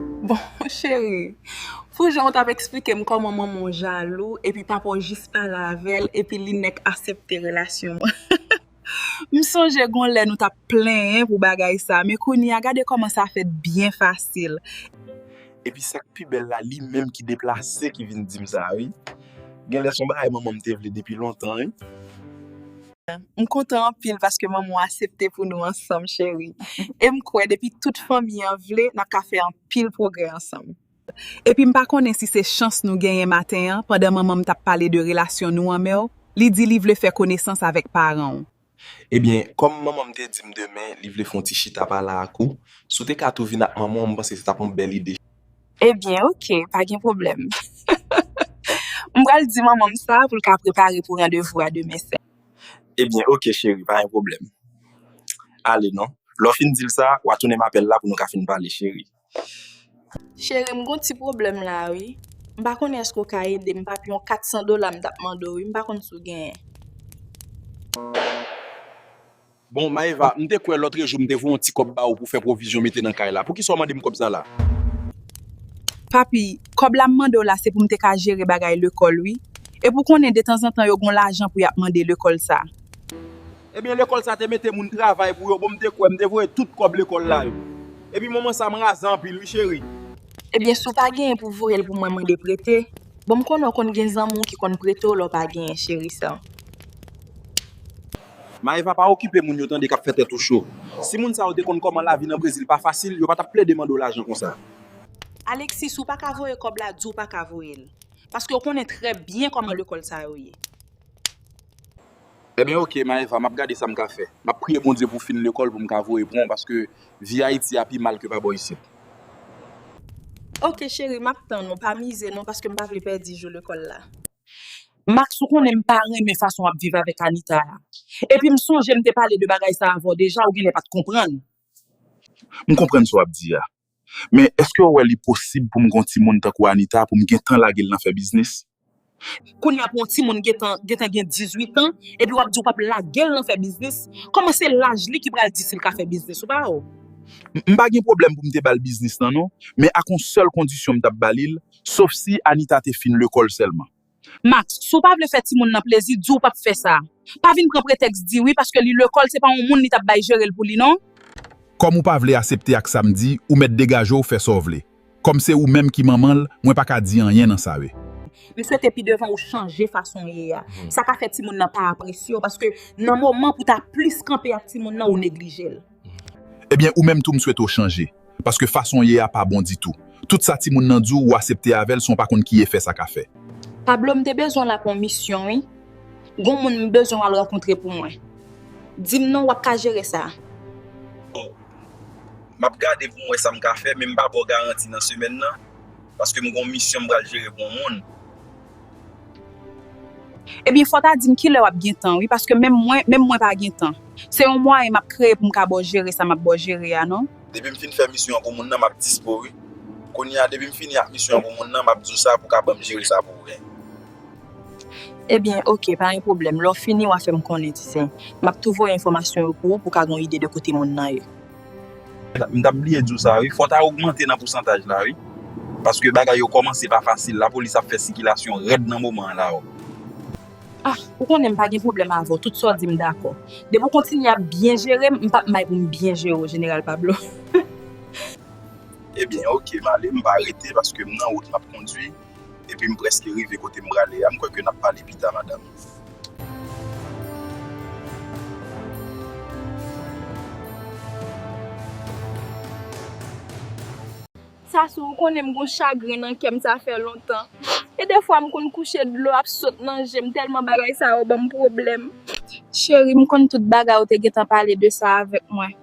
Bon cheri, pou jan ou tap eksplike m kòman manman w jalou epi papa w jis pale avè l epi li nèk asepte relasyon an. M sonje gon lè nou tap plenyen pou bagay sa men kounye a gade kòman sa fèt byen fasil. Epi sa k pi bèl la li menm ki deplase ki vin di m sa wi. Genlè s on bagay manman m te vle depi lontan wi. M kontan anpil paske manmanw asepte pou nou ansanm cheri em kwè depi tout fanmi an vle nap ka fè anpil pwogrè ansanm. Epi m pa konnen si se chans nou genyen maten an pandan manmanm tap pale de relasyon nou anmèw li di li vle fè konesans avèk paranw. Ebyen kòm manmanm te dim demen li vle fon ti chita pale ak ou si w te ka tou vin ak manmanw m panse se tap yon bèl ide. Ebyen ok pa gen pwoblèm. M pral di manman m sa pou l ka prepare pou randevou a demen sèm. Ebyen ok cheri pa gen pwoblèm. Ale non. Lè w fin di l sa, wa tounen m apèl la pou nou ka fin pale cheri. Cheri m gon ti pwoblèm la wi. M pa konnen èske w ka ede m papi yon 400 dola m t ap mande w wi m pa konn si w genyen. Bon Maëva, m te kwè lotre jou m te voye yon ti kòb ba ou pou fè pwovizyon mete nan kay la. Poukisa w mande m kòb sa la? Papi, kòb la m mande w la se pou m te ka jere bagay lekòl wi. Epi w konnen detanzantan yo gen yon lajan pou y ap mande lekòl sa. Ebyen lekòl sa te mete moun travay pou yo, bon m te kwè m te voye tout kòb lekòl la yo. Epi moman sa m raze anpil wi cheri. Ebyen si w pa genyen pou w voye l pou mwen mande prete, bon m konnen w konn gen zanmi w ki konn prete w lè w pa genyen cheri sè m. Maëva pa okipe moun yo tande kap fè tèt ou cho. Si moun sa yo te konn kòman lavi nan Brezil pa fasil yo pa tap plede mande w lajan konsa. Alexis ou paka voye kòb la di w paka voyel paske w konnen trè byen kòman lekòl sa yo ye. Ebyen ok Maëva map gade sam ka fè. Map priye Bondye pou w fin lekòl pou m ka voye pran w paske vi Ayiti a pi mal ke pa bò isit. Ok cheri map tann ou pa mize non paske m pa vle pèdi jou lekòl la. Max ou konnen m pa renmen fason wap viv avèk Anita a epi m sonje m te pale de bagay sa avèw deja ou genlè pat konprann. M konprann sa wap di a men eskew wè li posib poum gen yon timoun tankou Anita poum gentan lagel nan fè biznis. Kounya pou yon timoun gentan gentan gen 18 ans epi wap di ou pap lagel nan fè biznis kòman se laj li ki pral di sil ka fè biznis ou pa wè. M pa gen pwoblèm poum te bal biznis lan non men ak yon sèl kondisyon m tap balil Sof si Anita te fin lekòl sèlman. Max, si w pa vle fè timoun nan plezi, di w p ap fè sa. Pa vin pran pretèks di wi paske li lekòl se pa yon moun li t ap bay jere l pou li non. Kòm ou pa vle asepte ak sa m di, ou mèt degaje w fè sa w vle. Kòm se ou menm ki manman l, mwen pa ka di anyen nan sa e. M swete pi devan ou chanje fason w ye a. Sa ka fè timoun nan pa apresye w paske nan moman pou w ta plis kanpe ak timoun nan ou neglije l. Ebyen ou menm tou m swete w chanje paske fason w ye a pa bon ditou. Tout sa timoun nan di w ou asepte avè l san w pa konn ki efè sa ka fè. Pablo m te bezwen w la pou yon misyon wi. Gon moun m bezwen w al rankontre pou mwen. Di m non w ap ka jere sa. Bon. M ap gade pou m wè sa m ka fè men m pa ba w garanti nan semèn nan paske m gon misyon m pral jere pou yon moun. Ebyen fò ta dim kilè wap gen tan wi paske menm mwen menm mwen pa gen tan se yon mwayen map kreye poum ka baw jere sa map baw jere a non. Depim fin fè misyon an pou moun nan map dispo wi kounye a depim fini ak misyon an pou moun nan map diw sa pou ka banm jere sa pou ou gen. Ebyen ok pa gen pwoblèm lèw fini wa fèm konnen ti zen map tou voye enfòmasyon yo pou ou pou ka gon ide de kote moun nan ye. M tap bliye diw sa wi, fò ta ogmante nan pousantaj la wi, paske bagay yo kòmanse pa fasil, lapolis ap fè sikilasyon rèd nan moman an la. Ah ou konnen m pa gen pwoblèm avè w tout sa w di m dakò. Depi w kontinye ap byen jere m, m pap may pou m byen jere w jeneral Pablo hih. Ebyen ok m ale m pa rete paske m nan wout map kondwi. Epi m preske rive kote m prale a. M kwè ke n ap pale pita madam. Sassou, ou konnen m gon chagren nan kè m sa fè lontan. E defwa m konn kouche dlo ap sot nan je m tèlman bagay sa yo ban m pwoblèm. Cheri, m konn tout bagay ou te gentan pale de sa avèk mwen.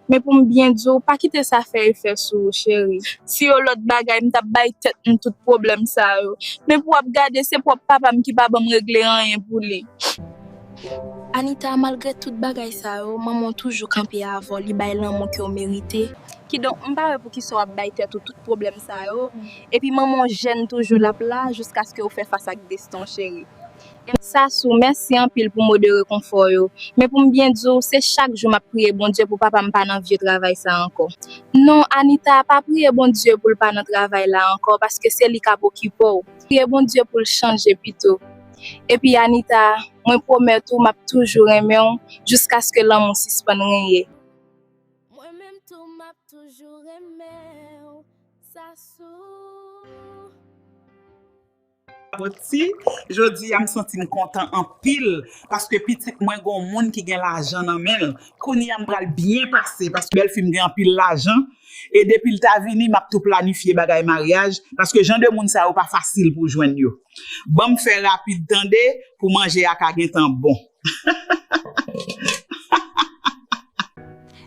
Men pou m byen di w, pa kite sa fè efè sou ou cheri. Si yo lòt bagay m tap bay tèt m tout pwoblèm sa yo. Men pou w ap gade se pwòp papa m ki pa ban m regle anyen pou li. Anita, malgre tout bagay sa yo, manman w toujou kanpe avè w, li bay lanmou ke w merite. Kidonk m pa wè pou kisa w ap bay tèt ou tout pwoblèm sa yo. Epi manman w jèn toujou, l ap la jiskaske ou fè fas ak desten w cheri. M. Sassou, Mèsi anpil pou mo de rekonfò yo. Men pou m byen di w, se chak jou m ap priye Bondye pou papa m pa nan vye travay sa ankò. Non, Anita, pa priye Bondye pou l pa nan travay la ankò paske se li k ap okipe w. Priye Bondye pou l chanje pito. Epi Anita, mwen pwomèt ou m ap toujou renmen w jiskaske lanmou sispann renye. Mwen menm tou m ap toujou renmen w, Sassou. Boti, Jodi a m santi m kontan anpil paske pitit mwen gon moun ki gen lajan nan men l. Kounye a m pral byen pase paske bèlfi m gen anpil lajan e depi l ta vini m ap tou planifye bagay maryaj paske jan de moun sa yo pa fasil pou w jwenn yo. Ban m fè rapid tande pou manje a ka gentan bon.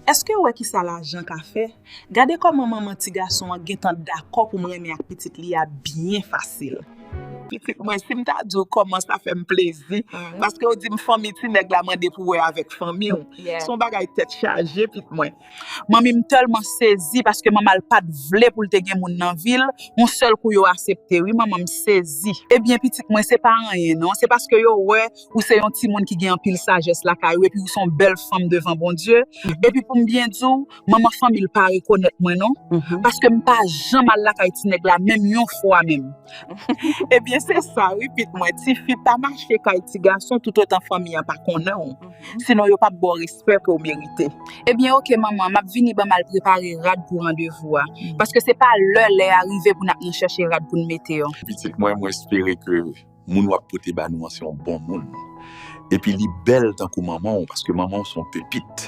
Èskew wè kisa lajan ka fè? Gade kòman manman ti gason an gentan dakò pou m renmen ak pitit li a byen fasil. Pitit mwen si m ta di w kòman sa fè m plezi paske w di m fanmi ti nèg la mande pou wè avèk fanmi w son bagay tèt chaje pitit mwen. Manmi m tèlman sezi paske manman l pat vle pou l te gen moun nan vi l, yon sèl kou yo asepte wi manman m sezi. Ebyen pitit mwen se pa anyen non, se paske yo wè ou se yon timoun ki gen anpil sajès lakay ou epi ou se yon bèl fanm devan Bondye, epi pou m byen di w manman fanmi l pa rekonèt mwen non, paske m pa janm al lakay ti nèg la menm yon fwa menm. Ebyen se sa wi pit mwen, tifi pa mache kay ti gason toutotan fanmi an pa konnen w. Sinon yo pap baw respè ke w merite. Ebyen ok manman map vini banm al prepare rad pou randevou a. Paske se pa lè lè a rive pou nap nan chèche rad poun mete yo. Pitit mwen mwen espere ke moun wap pote ba nou an se yon bon moun. Epi li bèl tankou manman w paske manman w se yon pepit.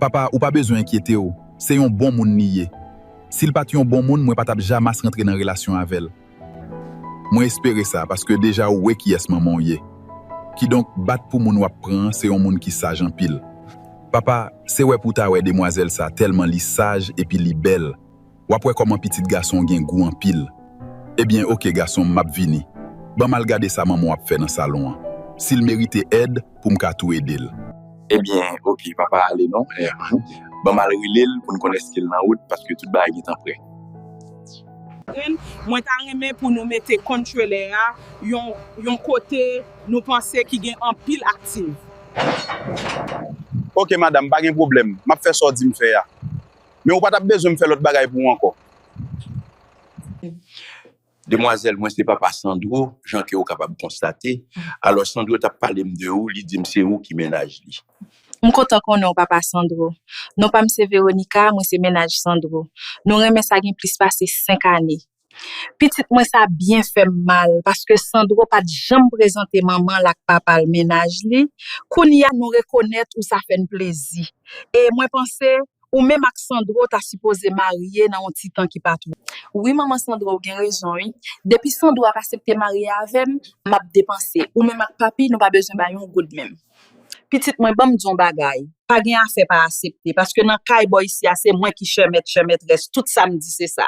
Papa ou pa bezwen enkyete w se yon bon moun li ye. Sil pat yon bon moun mwen pa tap jamas rantre nan relasyon avèl. Mwen espere sa, paske deja ou wé kiyès manman w ye. Kidonk, bat pou moun wap pran an se yon moun ki saj anpil. Papa, se wè pou w ta wè demwazèl sa tèlman li saj epi li bèl, wap wè kòman pitit gason w gen gou anpil. Ebyen, oke gason m, map vini. Ban m al gade sa manman w ap fè nan salon an. Si l merite èd, pou m ka tou ede l. Ebyen, oke, papa ale non. Ban m al rele l pou n konn èske l nan wout, paske tout bagay gentan prè. Catherine, Mwen ta renmen pou nou mete kont trelè a yon yon kote nou panse ki gen anpil aktiv. Ok madam, pa gen pwoblèm. M ap fè sa w di m fè a. Men ou pa t ap bezwen m fè lòt bagay pou ou ankò. Demwazèl, Mwen se papa Sandro, jan ke ou kapab konstate. Alò Sandro t ap pale m de ou, li di m se ou ki mennaj li. M kontan konnen w papa Sandro. Non pa m se Veronica, mwen se mennaj Sandro. Nou renmen sa gen plis pase 5 ane. Pitit mwen sa byen fè m mal paske Sandro pa t janm prezante manman l ak papa l mennaj li, kounye a nou rekonèt ou sa fè n plezi. E mwen panse ou menm ak Sandro ta sipoze marye nan yon ti tan ki pa twò. Wi manman Sandro ou gen rezon wi. Depi Sandro ap asepte marye avè m, m ap depanse. Ou menm ak papi nou pa bezwen bay yon goud menm. Pitit mwen banm di yon bagay, pa gen afè pa asepte, paske nan kay bò isi a se mwen ki chè mèt chè mètrès, tout sam di se sa.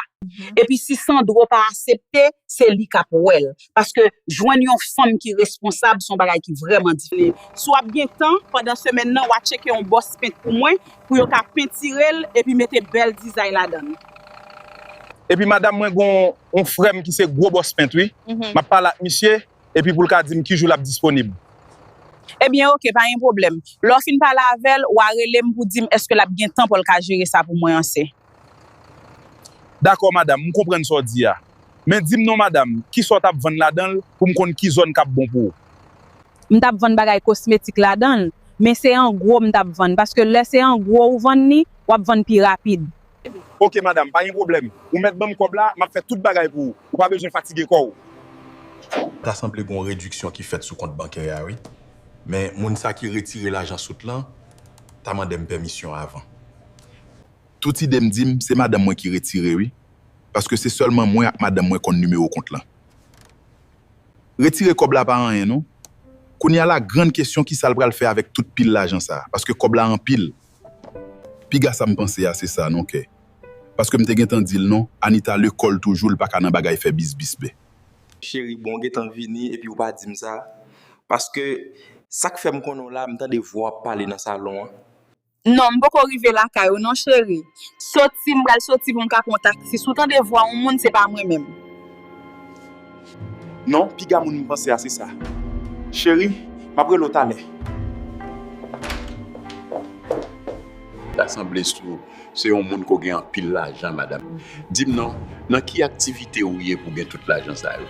Epi si Sandro pa asepte, se li kap wèl, paske jwenn yon fanm ki responsab son bagay ki vrèman difisil. Si w ap gen tan pandan semèn nan wa tcheke yon bòs pent pou mwen, pou yo ka pentire l epi mete bèl dizay ladan l. Epi madam mwen gon yon frèm ki se gwo bòs pent wi, map pale ak misye epi pou l ka di m ki jou l ap disponib. Ebyen oke, pa gen pwoblèm. Lè w fin pale avè l, w a rele m pou di m èske l ap gen tan pou l ka jere sa pou mwen anse. Dakò madam, m konprann sa w di a. Men di m non madam, ki sa w t ap vann ladan l pou m konn ki zòn k ap bon pou w? M t ap vann bagay kosmetik ladan l, men se an gwo m t ap vann paske lè se an gwo ou vann li, w ap vann pi rapid. Ok madam, pa gen pwoblèm. Ou mèt ban m kòb la, m ap fè tout bagay pou ou. Ou pa bezwen fatige kò ou. Ta sanble gon rediksyon ki fèt sou kont bankè a wi. Men moun sa ki retire lajan sot lan ta mande m pèmisyon avan. Tout ide m di m se madanm mwen ki retire wi. Paske se sèlman mwen ak madanm mwen konn nimewo kont lan. Retire kòb la pa anyen non. Kounya la grann kesyon kisa l pral fè avèk tout pil lajan sa. Paske kòb la anpil. Piga sam panse a se sa non kè paske m te gentan dil non Anita lekòl toujou l paka nan bagay fè bisbis be. Cheri bon ou gentan vini epi ou pa dim sa paske sak fèm konnen w la m tande vwa w ap pale nan salon an. Non m poko rive lakay ou non cheri soti m pral soti pou m ka pran w taxis ou tande vwa yon moun se pa mwen menm. Non, piga moun m panse a se sa. Cheri, m ap rele w talè. Ta sanble sou se yon moun ko gen anpil lajan madam. Di m non, nan ki aktivite ou ye pou gen tout lajan sa yo?